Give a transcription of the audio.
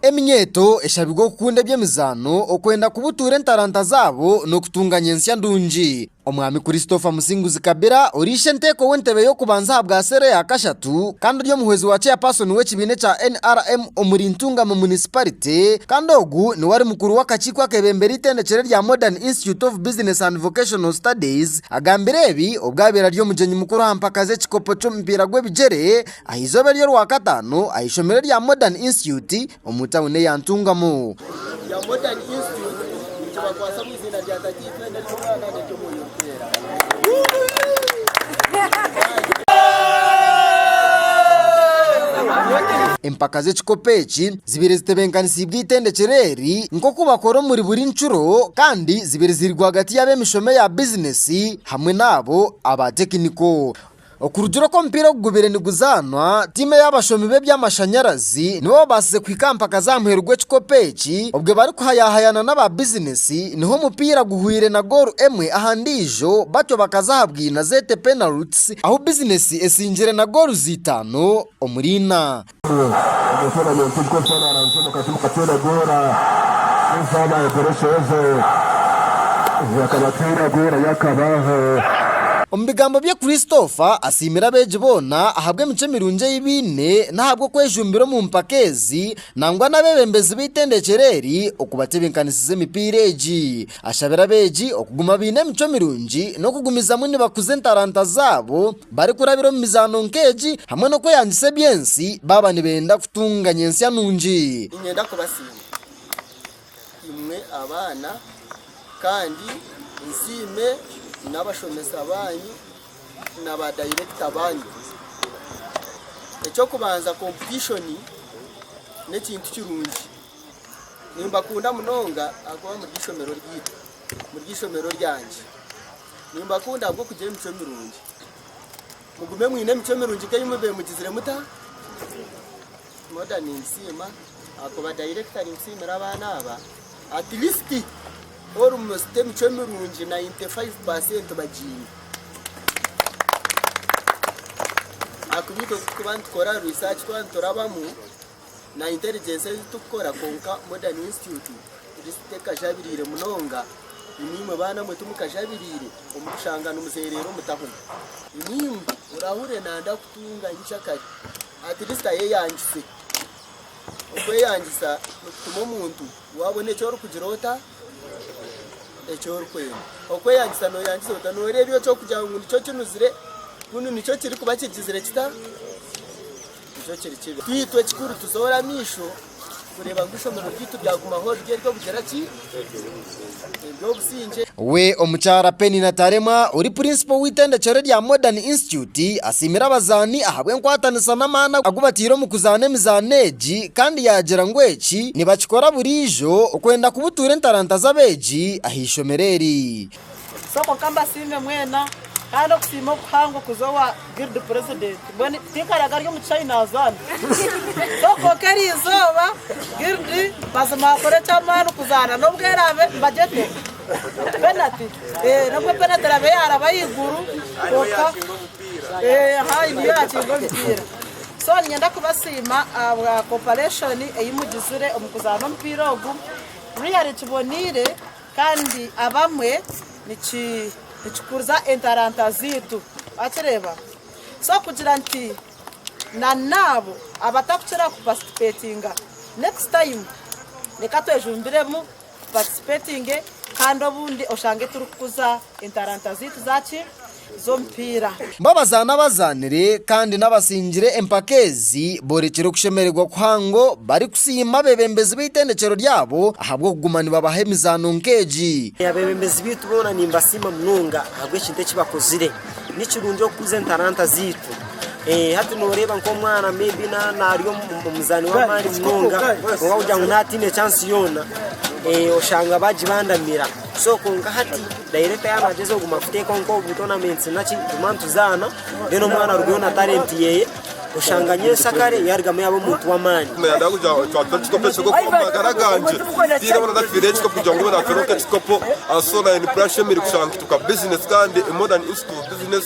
Eminyeeto eshabirwe okukunda eby'emizaano, okwenda kubutuura entaranta zaabo n'okutunga nyentsya ndungi. Omwami Christopher Musinguzi Kabira ori ishenteeko w'entebe y'okubanza aha bwa seero eya kashatu kandi ori omuhwezi wa chairperson w'ekibiina ekya NRM omuri Ntungamo munisiparite kandi ogu niwe ari mukuru w'akakiiko akebembera eitendekyero erya Modern Institute of Business and Vocational Studies agambire ebi obwo abaire ari omugyenyi mukuru aha mpaka z'ekikopo ky'omupiira gw'ebigyere aha izooba ery'Orwakataano aha ishomero erya Modern Institute omu tauni eya Ntungamo. Empaka z'ekikopo eki zibaire zitebenkanisiibwe eitendekyero eri nk'oku bakora omuri buri ncuro kandi zibaire ziri rwagati y'ab'emishomo eya bizineesi hamwe n'abo aba tekiniko. Okurugira oku omupiira ogu gubaire niguzaanwa, tiimu ey'abashomi b'eby'amashanyarazi nibo baabaasize kuhika aha mpaka z'aha muheru gw'ekikopo eki obwe barikuhayahayana n'aba bizinesi niho omupiira guhweire na goolu emwe aha ndiijo batyo bakaza aha bwina zeete penalties ahu bizinesi esingire na gooluzi itaano omuri ina. Omu bigambo bye Christopher asiimire abeegi boona ahabw'emicwe mirungi ei baine n'ahabw'okwejumbira omu mpaka ezi nangwa n'abeebembezi b'eitendekero eri okubatebinkanisiza emipiira egi. Ashabire abeegi okuguma baine emicwe mirungi n'okugumizamu nibakuza entaranta zaabo barikurabira omu mizaano nk'egi hamwe n'okweyangisa eby'ensi baaba nibenda kutunga nyentsya nungi. Niinyenda kubasiima imwe abaana kandi nsiime n'abashomesa baanyu na baadayirekita baanyu. Eky'okubanza komputishoni n'ekintu kirungi. Nimbakunda munonga ahakuba muri eishomero ryaitu, muri eishomero ryangye. Nimbakunda ahabw'okugira emicwe mirungi. Mugume mwine emicwe mirungi nk'ei mwabaire mugizire muta? Moda nimbisiima ahakuba dayirekita arikusiimira abaana aba. Atirisiti orumosita emicwe mirungi nayinti faivu paasenti bagiine. Ahakuba itwe ku turikuba nitukora riisaaci twaba niturabamu, na intelligence ezi turikukora kwonka modern institute tekajabiriire munonga naimwe baana mwe timukajabiriire omukushanga nimuzereera omu tahuni naimwe orahurire nanda kutunga nyinkya kare atleast ayeyangise okweyangisa nikutuma omuntu wabona eki orikugira ota eki orikwenda okweyangisa noyeyangisa ota noreeba eki orikugira ngu nikyo kinuzire kunu nikyo kirikuba kigizire kita Nikyo kiri kibi nkaitwe ekikuru tuzoore amaisho kureeba ngu eishomero ryaitu ryagumaho riri ery'obugira ki? Ery'obusingye. We Omukyara Penny Nataremwa ori Purinsipo w'eitendekyero erya Modern Institute asiimire abazaani ahabw'enkwatanisa n'amaani agu bataire omu kuzaana emizaano egi kandi yaagira ngu eki nibakikora buriijo okwenda kubutuura entaranta z'abeegi aha ishomero eri. So kwonka mbasiime mwena kandi okusiima okuhango kuza owa guild president mbwenu tinkaraga ari omu kishaayi nazaana so kwonka eriizooba guild mazima akora ekyamaani kuzaana nobwo eraabe mbagyetera penalty nobwo penalty eraabe yaraba ahaiguru kwonka haahi niyo yaakinga omupiira so niinyenda kubasiima ahabwa cooperation ei mugizire omu kuzaana omupiira ogu really kiboneire. Kandi abamwe nikikuriza entaranta zaitu. Wakireeba? So kugira nti na naabo abatakukira ku participatinga, next time reka twejumbiremu tu participatinge kandi obundi oshange turikukuza entaranta zaitu za ki? z'omupiira. Bo abazaani abazaanire kandi n'abatsingire empaka ezi boorekire okushemererwa kuhango barikusiima abeebembezi b'eitendekyero ryabo ahabw'okuguma nibabaha emizaano nk'egi. Abeebembezi baitu boona nimbasiima munonga ahabw'ekintu eki bakozire. Ni kirungi okukuza entaranta zaitu. Hati nooreeba nk'omwana maybe naari omuzaani w'amaani munonga, kwonka kugira ngu naatiine chansi yoona, oshanga baagibandamira. So kwonka hati dayirekita yaabaagyezo kuguma kuteekaho nk'obu butonamenti naki tuguma nituzaana then omwana arugeyo na talenti yeeye oshanga nyowe nsakare yaarugamu yaaba omuntu w'amaani Nayenda kugira ngu twatwara ekikopo ekyo omu magara gangye tihaine obu naafiire ekikopo kugira ngu baatware nk'ekikopo and so naanye ni puraani nshemereire kushanga nituka bizinesi kandi more than institute business